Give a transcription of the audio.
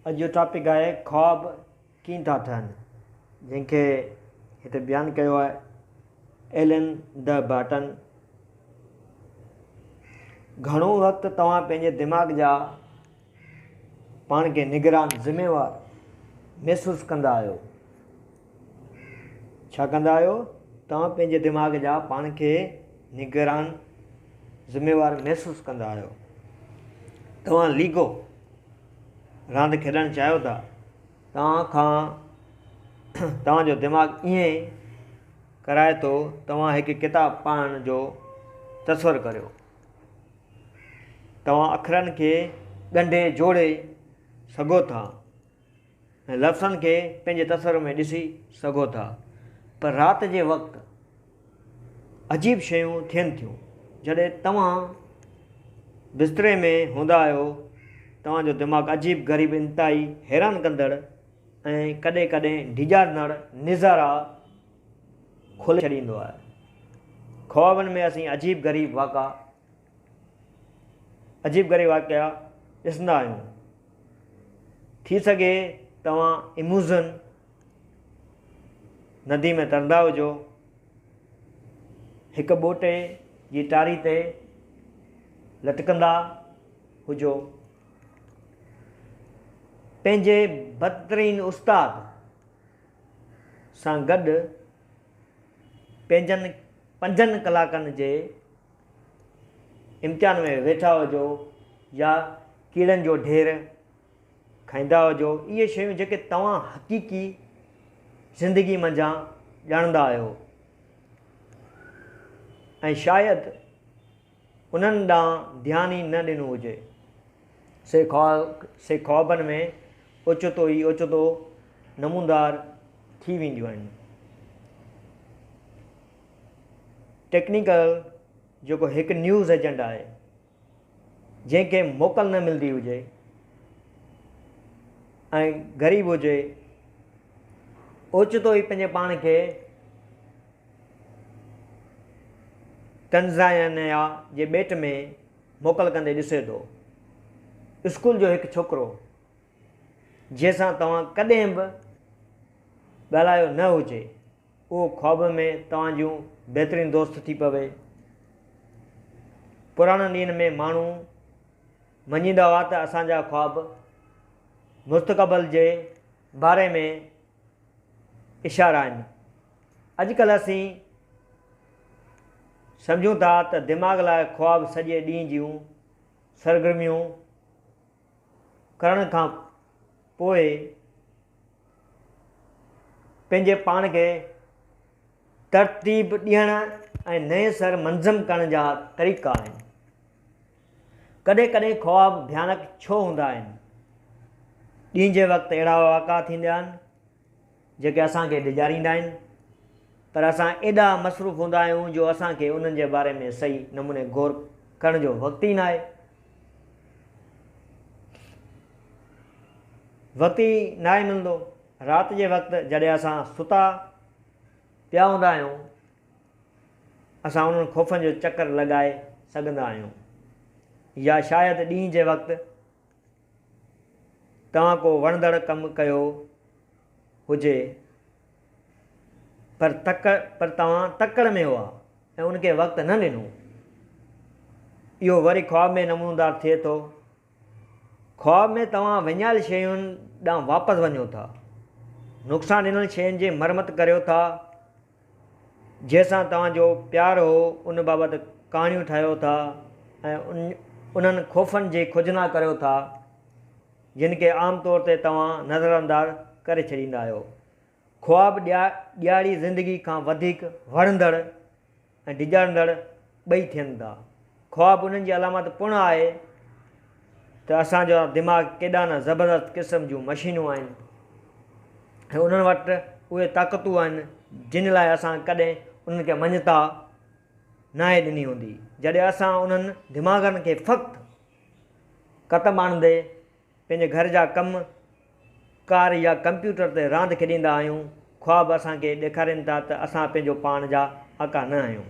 اڄ جو ٽاپڪ آهي خواب ڪيئن ٿا ٺهن جنهن کي هتي بيان ڪيو آهي ايلن ڊ برٽن گهڻو وقت توهان پنهنجي دماغ جا پاڻ کي نگران ذميوار محسوس ڪندا آهيو ڇا ڪندا آهيو؟ توهان پنهنجي دماغ جا پاڻ کي نگران ذميوار محسوس ڪندا آهيو؟ توهان ليگو راند کيڏڻ چاهيو ٿا؟ توهان کان توهان جو دماغ ائين ڪرائي ٿو توهان هڪ ڪتاب پڙهڻ جو تصور ڪريو توهان اکرن کي ڳنڍي جوڙي سگهو ٿا لفظن کي پنهنجي تصور ۾ ڏسي سگهو ٿا پر رات جي وقت عجيب شيون ٿين ٿيون جڏهن توهان بستري ۾ هوندا آهيو توهان جو دماغ عجيب غريب انتهائي حيران ڪندڙ ۽ ڪڏهن ڪڏهن ڊيڄارندڙ نظارا کولي ڇڏيندو آهي خوابن ۾ اسين عجيب غريب واقعا عجيب غريب واقعا ڏسندا آهيون. ٿي سگهي توهان اموزن ندي ۾ ترندا هجو. هڪ ٻوٽي جي ٽاري تي لٽڪندا هجو. پنهنجي بدترين استاد سان گڏ پنهنجن پنجن ڪلاڪن جي امتحان ۾ ويٺا هجو يا ڪيڙن جو ڍير کائيندا هجو، اهي شيون جيڪي توهان حقيقي زندگي منجهان ڄاڻندا آهيو ۽ شايد انهن ڏانهن ڌيان ئي نه ڏنو هجي، سي خوابن ۾ اوچتو ئي اوچتو نموندار ٿي وينديون آهن. ٽيڪنيڪل جيڪو هڪ نيوز ايجنٽ آهي جنهن کي موڪل نه ملندي هجي ۽ غريب هجي اوچتو ئي پنهنجي پاڻ کي تنزانيا جي ٻيٽ ۾ موڪل ڪندي ڏسي ٿو اسڪول جو هڪ ڇوڪرو جنهن سان توهان ڪڏهن به ڳالهايو نه هجي اهو خواب ۾ توهان جون بهترين دوست ٿي پوي. پراڻن ڏينهن ۾ ماڻهو مڃيندا هئا ته اسان جا خواب مستقبل جي باري ۾ اشارا آهن. اڄڪلهه اسين سمجهون ٿا ته دماغ لاء خواب سڄي ڏينهن جون سرگرميون، ڪرڻ کان پوء پنهنجي پاڻ کي ترتيب ڏيڻ ۽ نئين سر منظم ڪرڻ جا طريقا آهن. ڪڏهن ڪڏهن خواب ڀيانڪ ڇو هوندا آهن؟ ڏينهن جي وقت اهڙا واقعا ٿيندا آهن. جيڪي اسان کي ڊيڄاريندا آهن پر اسان ايڏا مصروف هوندا آهيون جو اسان کي انهن جي باري ۾ صحيح نموني غور ڪرڻ جو وقت ئي ناهي. وقت ئي ناهي ملندو. رات جي وقت جڏهن اسان ستا پيا هوندا آهيون اسان انهن خوفن جو چڪر لڳائي سگهندا آهيون يا شايد ڏينهن جي وقت. توهان ڪو وڻندڙ ڪم ڪيو هجي پر تڪڙ پر توهان تڪڙ ۾ هئا ۽ ان کي وقت نه ڏنو. اهو وري خواب ۾ نمونودار ٿئي ٿو. خواب ۾ توهان وڃايل شين ڏانهن واپس وڃو ٿا. نقصان ڏنل شين جي مرمت ڪريو ٿا. جنهن سان توهان جو پيار هو ان بابت ڪهاڻيون ٺاهيو ٿا ۽ انهن خوفن جي کوجنا ڪريو ٿا جن کي عام طور تي توهان نظرانداز ڪري ڇڏيندا آهيو. خواب ڏياڙي زندگي کان وڌيڪ وڻندڙ ۽ ڊيڄارندڙ ٻئي ٿين ٿا. خواب انهن جي علامت پڻ آهي ته اسان جا دماغ ڪيڏا نه زبردست قسم جون مشينون آهن ۽ انهن وٽ اهي طاقتون آهن جن لاء اسان ڪڏهن انهن کي مڃتا ناهي ڏني هوندي. جڏهن اسان انهن دماغن کي فقط ڪتب آڻندي پنهنجي گهر جا ڪم ڪار يا ڪمپيوٽر تي راند کيڏيندا آهيون، خواب اسان کي ڏيکارين ٿا ته اسان پنهنجو پاڻ جا آقا نه آهيون.